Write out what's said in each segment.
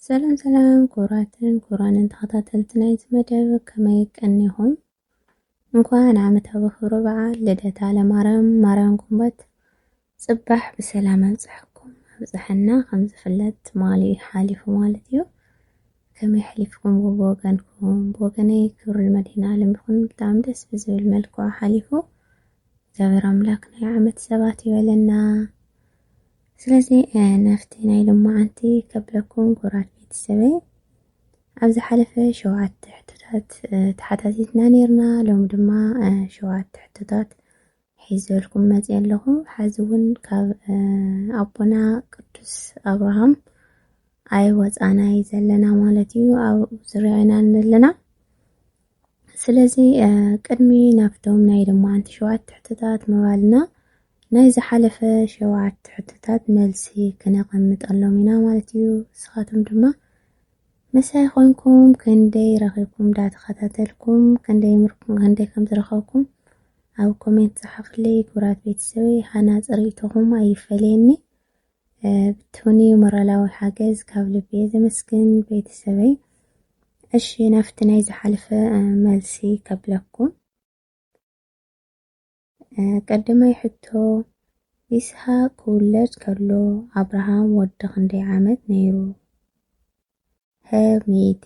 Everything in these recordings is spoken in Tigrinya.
ሰላም ሰላም ክቡራትን ክቡራንን ተኸታተልቲ ናይዚ መደብ ከመይ ቀኒኹም? እንኳን ዓመታዊ ክብረ በዓል ልደታ ለማርያም ማርያም ጉንበት ጽባሕ ብሰላም ኣብጽሐኩም ኣብጽሐና። ከም ዝፍለጥ ትማሊ እዩ ሓሊፉ ማለት እዩ። ከመይ ሓሊፍኩም ብወገንኩም? ብወገነይ ክብሪ መድህን ዓለም ይኹን ብጣዕሚ ደስ ብዝብል መልክዑ ሓሊፉ። እግዚኣብሔር ኣምላክ ናይ ዓመት ሰባት ይበለና። ስለዚ ናፍቲ ናይ ሎማዓንቲ ከብለኩም ኩራት ቤተሰበይ ኣብ ዝሓለፈ ሸውዓተ ሕቶታት ተሓታቲትና ነርና ሎም ድማ ሸውዓተ ሕቶታት ሒዘልኩም መፅ ኣለኹ ሓዚ እውን ካብ ኣቦና ቅዱስ ኣብርሃም ኣይ ወፃናይ ዘለና ማለት እዩ ኣብ ዙርያ ኢና ዘለና ስለዚ ቅድሚ ናብቶም ናይ ልማዓንቲ ሸውዓተ ሕቶታት ምባልና ናይ ዝሓለፈ ሸውዓተ ሕቶታት መልሲ ክነቐምጠሎም ኢና ማለት እዩ። ንስኻትኩም ድማ ምሳይ ኾንኩም ክንደይ ረኺብኩም ዳተኸታተልኩም ክንደይ ምርኩም ክንደይ ከም ዝረኸብኩም ኣብ ኮሜንት ጸሓፍለይ ክብራት ቤተሰበይ ሃናጽ ርእይቶኹም ኣይፈለየኒ። ብትውኒ ሞራላዊ ሓገዝ ካብ ልብየ ዘመስግን ቤተሰበይ። እሺ ናፍቲ ናይ ዝሓለፈ መልሲ ከብለኩም ቀዳማይ ሕቶ ይስሃቅ ክውለድ ከሎ ኣብርሃም ወዲ ክንደይ ዓመት ነይሩ? ሀ ሚእቲ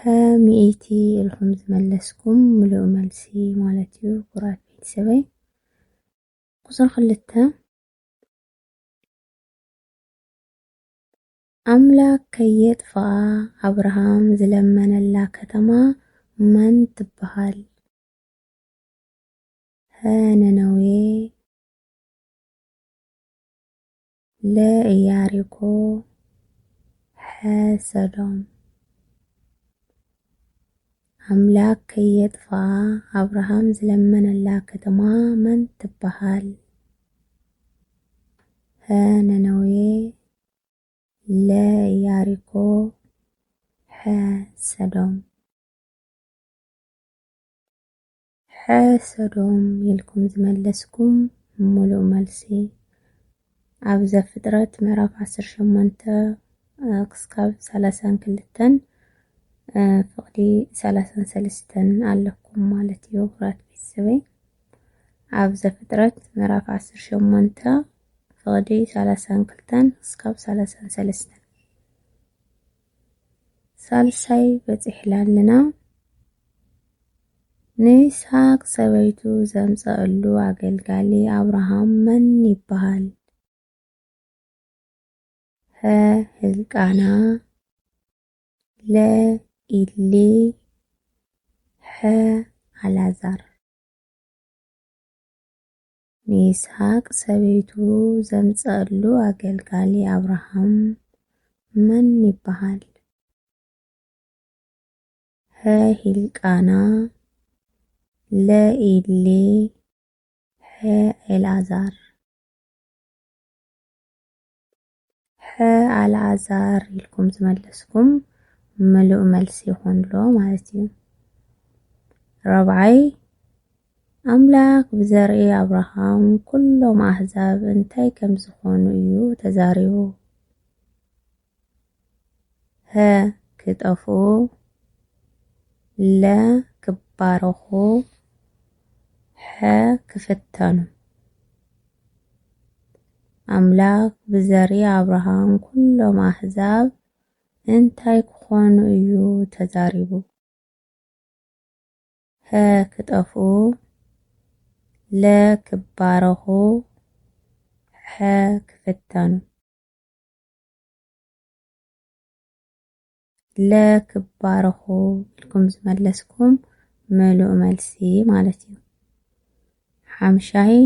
ሀ ሚእቲ ኢልኩም ዝመለስኩም ምሉእ መልሲ ማለት እዩ ኩራት ቤተሰበይ ቁፅሪ ክልተ ኣምላክ ከየጥፍኣ ኣብርሃም ዝለመነላ ከተማ መን ትበሃል? ሀ ነነዌ ለኢያሪኮ ሐሰዶም ኣምላክ ከየጥፍኣ ኣብርሃም ዝለመነላ ከተማ መን ትበሃል? ሀ ነነዌ ለ ኢያሪኮ ሐ ሰዶም ሕሰዶም ኢልኩም ዝመለስኩም ሙሉእ መልሲ ኣብ ዘፍጥረት ምዕራፍ ዓሰርተ ሸሞንተ ክስካብ ሰላሳን ክልተን ፍቕዲ ሰላሳን ሰለስተን ኣለኩም ማለት እዩ ክብራት ቤተሰበይ ኣብ ዘፍጥረት ምዕራፍ ዓሰርተ ሸሞንተ ፍቕዲ ሰላሳን ክልተን ክስካብ ሰላሳን ሰለስተን ሳልሳይ በጺሕላ ኣለና። ንይስሃቅ ሰበይቱ ዘምጸእሉ ኣገልጋሊ ኣብርሃም መን ይበሃል? ሀ ህልቃና ለ ኢሊ ሐ ኣላዛር ንይስሃቅ ሰበይቱ ዘምጸኣሉ ኣገልጋሊ ኣብርሃም መን ይበሃል? ሐ ሂልቃና ለ ኢሊ ሐ ኤልኣዛር። ሐ ኣልኣዛር ኢልኩም ዝመለስኩም ምሉእ መልሲ ይኾን ኣሎ ማለት እዩ። ራብዓይ ኣምላክ ብዘርኢ ኣብርሃም ኩሎም ኣህዛብ እንታይ ከም ዝኾኑ እዩ ተዛሪቡ። ሀ ክጠፍኡ፣ ለ ክባረኹ፣ ሐ ክፍተኑ ኣምላኽ ብዘርኢ ኣብርሃም ኵሎም ኣህዛብ እንታይ ክዀኑ እዩ ተዛሪቡ? ሀ ክጠፍኡ ለ ክባረኹ ሐ ክፍተኑ ለክባረኹ ኢልኩም ዝመለስኩም ምሉእ መልሲ ማለት እዩ። ሓምሻይ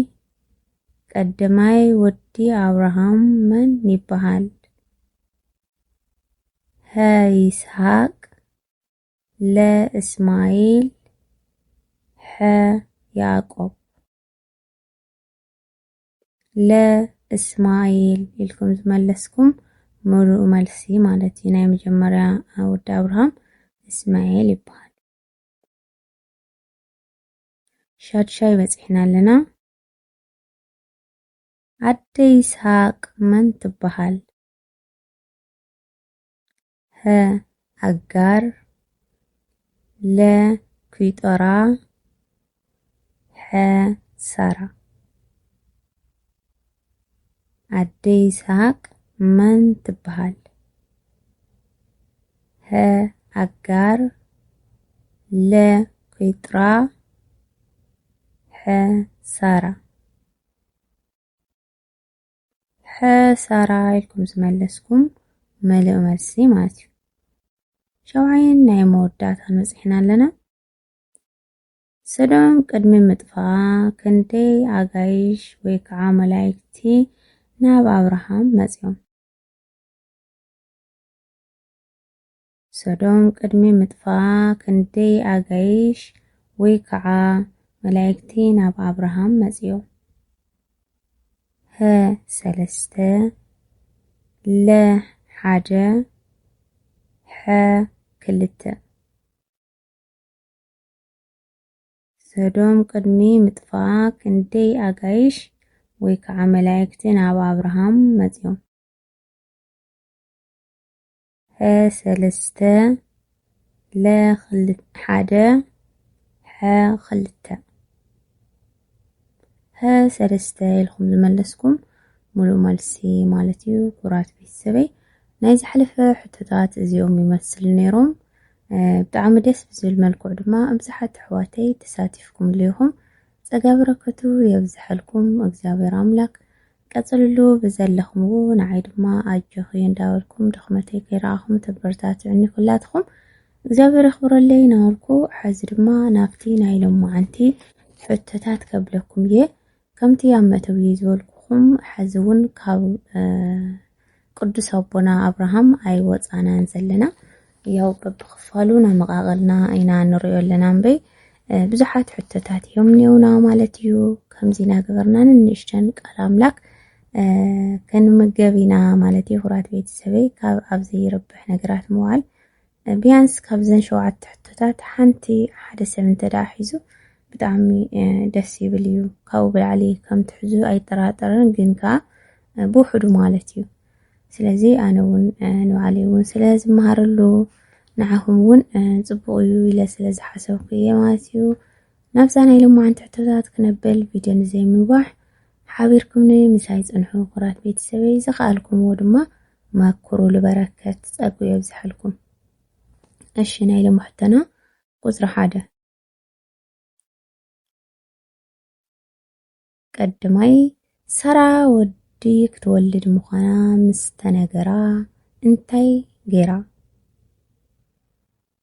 ቀድማይ ወዲ ኣብርሃም መን ይበሃል? ሀ ይስሐቅ፣ ለ እስማኤል፣ ሐ ያዕቆብ። ለ እስማኤል ኢልኩም ዝመለስኩም ምሉእ መልሲ ማለት እዩ። ናይ መጀመርያ ወዲ ኣብርሃም እስማኤል ይበሃል። ሻድሻይ በፂሕና ኣለና። ኣደ ይስሃቅ መን ትበሃል? ሀ ኣጋር ለ ኩይጦራ ሐ ሳራ ኣደ ይስሃቅ መን ትበሃል? ሀ ኣጋር ለ ኩይጥራ ሐ ሳራ ሕሳራ ኢልኩም ዝመለስኩም መሊኦ መልሲ ማለት እዩ። ሸውዓይን ናይ መወዳእታን በፂሕና ኣለና። ሰዶም ቅድሚ ምጥፋኣ ክንደይ ኣጋይሽ ወይ ከዓ መላይክቲ ናብ ኣብርሃም መፅዮም? ሰዶም ቅድሚ ምጥፍኣ ክንደይ ኣጋይሽ ወይ ከዓ መላኢክቲ ናብ ኣብርሃም መፅዮም? ሀ ሰለስተ ለ ሓደ ሐ ክልተ። ሰዶም ቅድሚ ምጥፍኣ ክንደይ ኣጋይሽ ወይ ከዓ መላኢክቲ ናብ ኣብርሃም መፅዮም? ሐ ሰለስተ ለ ሓደ ሐ ክልተ ሀ ሰለስተ ኢልኩም ዝመለስኩም ሙሉእ መልሲ ማለት እዩ። ኩራት ቤተሰበይ ናይ ዝሓለፈ ሕቶታት እዚኦም ይመስል ነይሮም። ብጣዕሚ ደስ ብዝብል መልክዑ ድማ ኣብዝሓት ኣሕዋተይ ተሳቲፍኩም ልኹም ጸጋ በረከቱ የብዝሐልኩም እግዚኣብሔር ኣምላክ ቀፅልሉ ብዘለኽምዎ ንዓይ ድማ ኣጆኺ እንዳበልኩም ድኽመተይ ከይረኣኹም ተበረታትዑኒ ኩላትኹም እግዚኣብሔር የኽብረለይ ናበልኩ ሐዚ ድማ ናብቲ ናይ ሎማዓንቲ ሕቶታት ከብለኩም እየ ከምቲ ኣብ መእተዊ ዝበልኩኹም ሐዚ እውን ካብ ቅዱስ ኣቦና ኣብርሃም ኣይወፃናን ዘለና ያው በብክፋሉ ነመቃቀልና ኢና ንሪኦ ኣለና እምበይ ብዙሓት ሕቶታት እዮም እኒውና ማለት እዩ ከምዚ ናገበርና ንንእሽተን ቃል ኣምላክ ክንምገብ ኢና ማለት እዩ ክቡራት ቤተሰበይ ካብ ኣብ ዘይረብሕ ነገራት ምዋል ቢያንስ ካብዘን ሸውዓተ ሕቶታት ሓንቲ ሓደ ሰብ እንተደኣ ሒዙ ብጣዕሚ ደስ ይብል እዩ። ካብኡ ብላዕሊ ከም ትሕዙ ኣይጠራጠርን ግን ከኣ ብውሕዱ ማለት እዩ። ስለዚ ኣነ እውን ንባዕለይ እውን ስለ ዝመሃረሉ ንዓኹም እውን ጽቡቕ እዩ ኢለ ስለ ዝሓሰብኩ እየ ማለት እዩ። ናብዛ ናይ ሎማዓንቲ ሕቶታት ክነብል ቪድዮ ንዘይምንዋሕ ሓቢርኩምኒ ምሳይ ጽንሑ ኩራት ቤተሰበይ ዝኸኣልኩምዎ ድማ ማኩሩ ልበረከት ጸጉ የብዝሐልኩም። እሺ ናይ ሎሚ ሕቶና ቁጽሪ ሓደ ቀድማይ ሰራ ወዲ ክትወልድ ምዃና ምስ ተነገራ እንታይ ገይራ?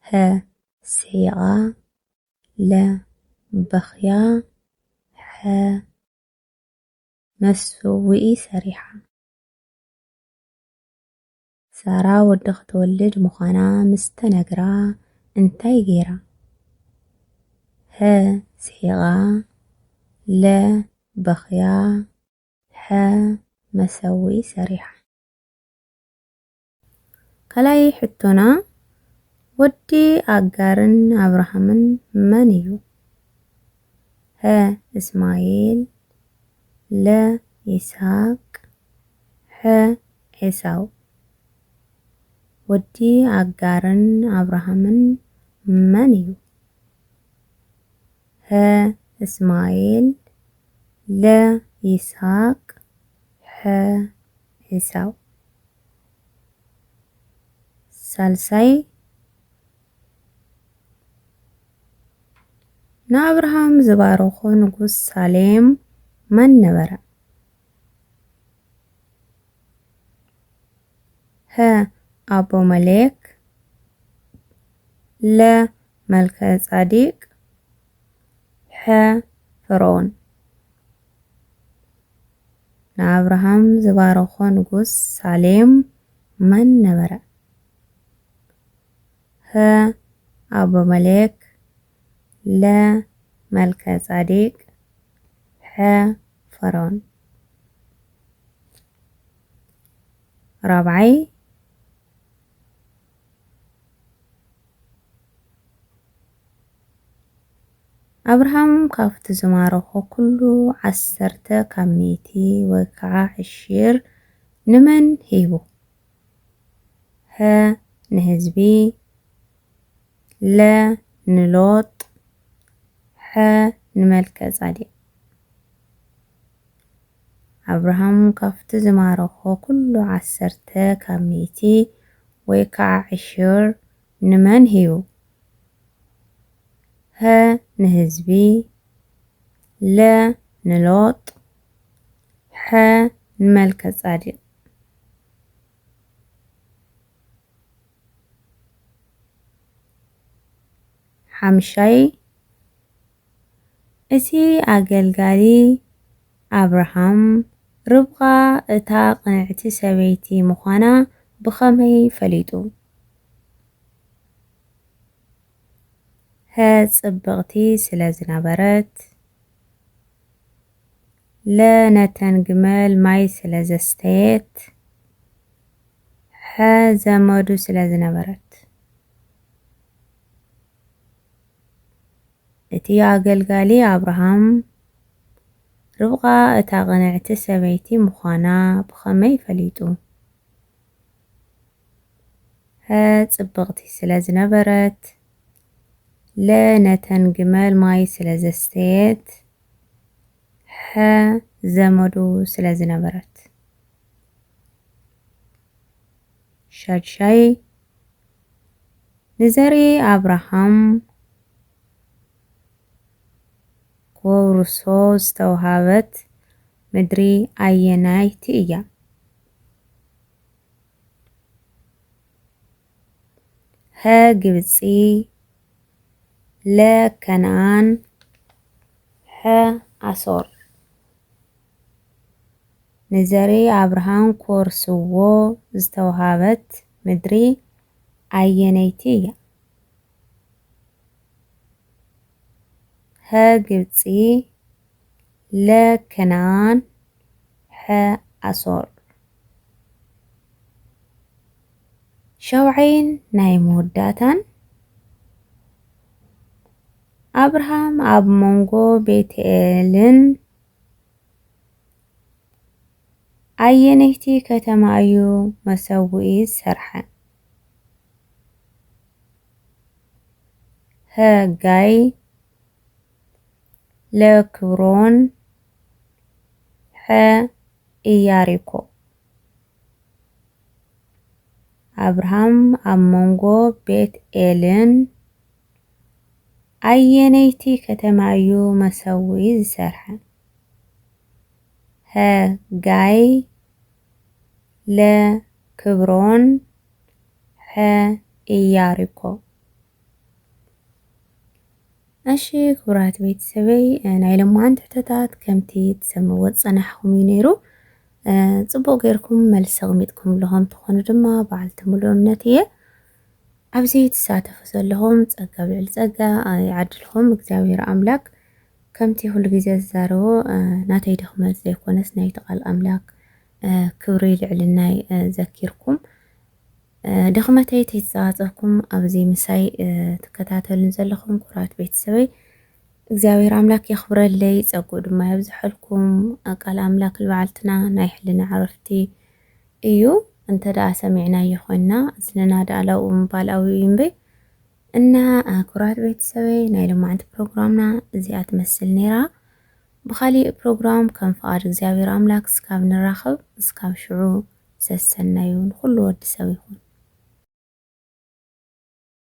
ሀ ስሒቓ ለ በኽያ ሐ መሰውኢ ሰሪሓ ሳራ ወዲ ክትወልድ ምዃና ምስ ተነግራ እንታይ ገይራ? ሀ ስሒቓ ለ በኽያ ሐ መሰውኢ ሰሪሓ። ካልኣይ ሕቶና ወዲ ኣጋርን ኣብርሃምን መን እዩ? ሀ እስማኤል ለ ይስሃቅ ሐ ኤሳው ወዲ ኣጋርን ኣብርሃምን መን እዩ? ሐ እስማኤል ለ ይስሃቅ ሐ ኤሳው ሳልሳይ ንኣብርሃም ዝባረኾ ንጉስ ሳሌም መን ነበረ? ሀ ኣቦ መሌክ ለ መልከ ጻዲቅ ሐ ፈርዖን ንኣብርሃም ዝባረኾ ንጉስ ሳሌም መን ነበረ? ህ ኣቡመሌክ ለ መልከጻዴቅ ሐ ፈርዖን ራብዓይ ኣብርሃም ካብቲ ዝማረኾ ኩሉ ዓሰርተ ካብ ሚእቲ ወይ ከዓ ዕሺር ንመን ሂቡ? ሀ ንህዝቢ ለ ንሎጥ ሐ ንመልከ-ጻዴቅ ኣብርሃም ካብቲ ዝማረኾ ኩሉ ዓሰርተ ካብ ሚእቲ ወይ ከኣ ዕሽር ንመን ህዩ? ሀ ንህዝቢ ለ ንሎጥ ሐ ንመልከጻዲቅ ሓምሻይ እቲ ኣገልጋሊ ኣብርሃም ርብቃ እታ ቅንዕቲ ሰበይቲ ምዃና ብኸመይ ፈሊጡ? ሐ ጽብቕቲ ስለ ዝነበረት። ለ ነተን ግመል ማይ ስለ ዘስተየት። ሐ ዘመዱ ስለ ዝነበረት። እቲ ኣገልጋሊ ኣብርሃም ርብቃ እታ ቅንዕቲ ሰበይቲ ምዃና ብኸመይ ፈሊጡ? ሐ ጽብቕቲ ስለ ዝነበረት። ለ ነተን ግመል ማይ ስለ ዘስተየት። ሐ ዘመዱ ስለ ዝነበረት ሻድሻይ ንዘርኢ ኣብርሃም ክወርሶ ዝተውሃበት ምድሪ ኣየናይቲ እያ? ሀ ግብጺ ለ ከነኣን ሐ ኣሶር ንዘሪ ኣብርሃም ክወርስዎ ዝተውሃበት ምድሪ ኣየነይቲ እያ? ሀ ግብጺ ለ ከነኣን ሐ ኣሶር ሻውዓይን ናይ መወዳእታን ኣብርሃም ኣብ መንጎ ቤትኤልን ኣየነይቲ ከተማ እዩ መሰውኢ ዝሰርሐ? ሀ ጋይ ለክብሮን ሐ ኢያሪኮ ኣብርሃም ኣብ መንጎ ቤት ኤልን ኣየነይቲ ከተማ እዩ መሰዊ ዝሰርሐ? ሀ ጋይ ለ ክብሮን ሐ ኢያሪኮ እሺ ክቡራት ቤተሰበይ ናይ ለማዓንቲ ሕቶታት ከምቲ ትሰምዎ ዝፀናሕኹም እዩ ነይሩ ፅቡቕ ጌርኩም መልሲ ኣቕሚጥኩም ኣለኹም ትኾኑ ድማ በዓልቲ ሙሉ እምነት እየ ኣብዚ ትሳተፉ ዘለኹም ፀጋ ኣብ ልዕሊ ፀጋ ይዓድልኹም እግዚኣብሔር ኣምላክ ከምቲ ኩሉ ግዜ ዝዛረቦ ናተይ ድኽመት ዘይኮነስ ናይቲ ቃል ኣምላክ ክብሪ ልዕልናይ ዘኪርኩም ድኽመተይ ተይተጻባጸብኩም ኣብዚ ምሳይ ትከታተሉን ዘለኹም ኩራት ቤተሰበይ እግዚኣብሔር ኣምላክ የኽብረለይ ጸጉኡ ድማ የብዝሐልኩም። ቃል ኣምላክ ልበዓልትና ናይ ሕልና ዕረፍቲ እዩ እንተ ደኣ ሰሚዕናዮ ኮይንና እዝንና ደኣ ላብኡ ምባል ኣብኡ እዩ እምበይ እና ኩራት ቤተሰበይ ናይ ሎማዕንቲ ፕሮግራምና እዚኣ ትመስል ነይራ። ብኻሊእ ፕሮግራም ከም ፍቓድ እግዚኣብሔር ኣምላክ እስካብ ንራኸብ እስካብ ሽዑ ሰሰናዩ ንኹሉ ወዲ ሰብ ይኹን።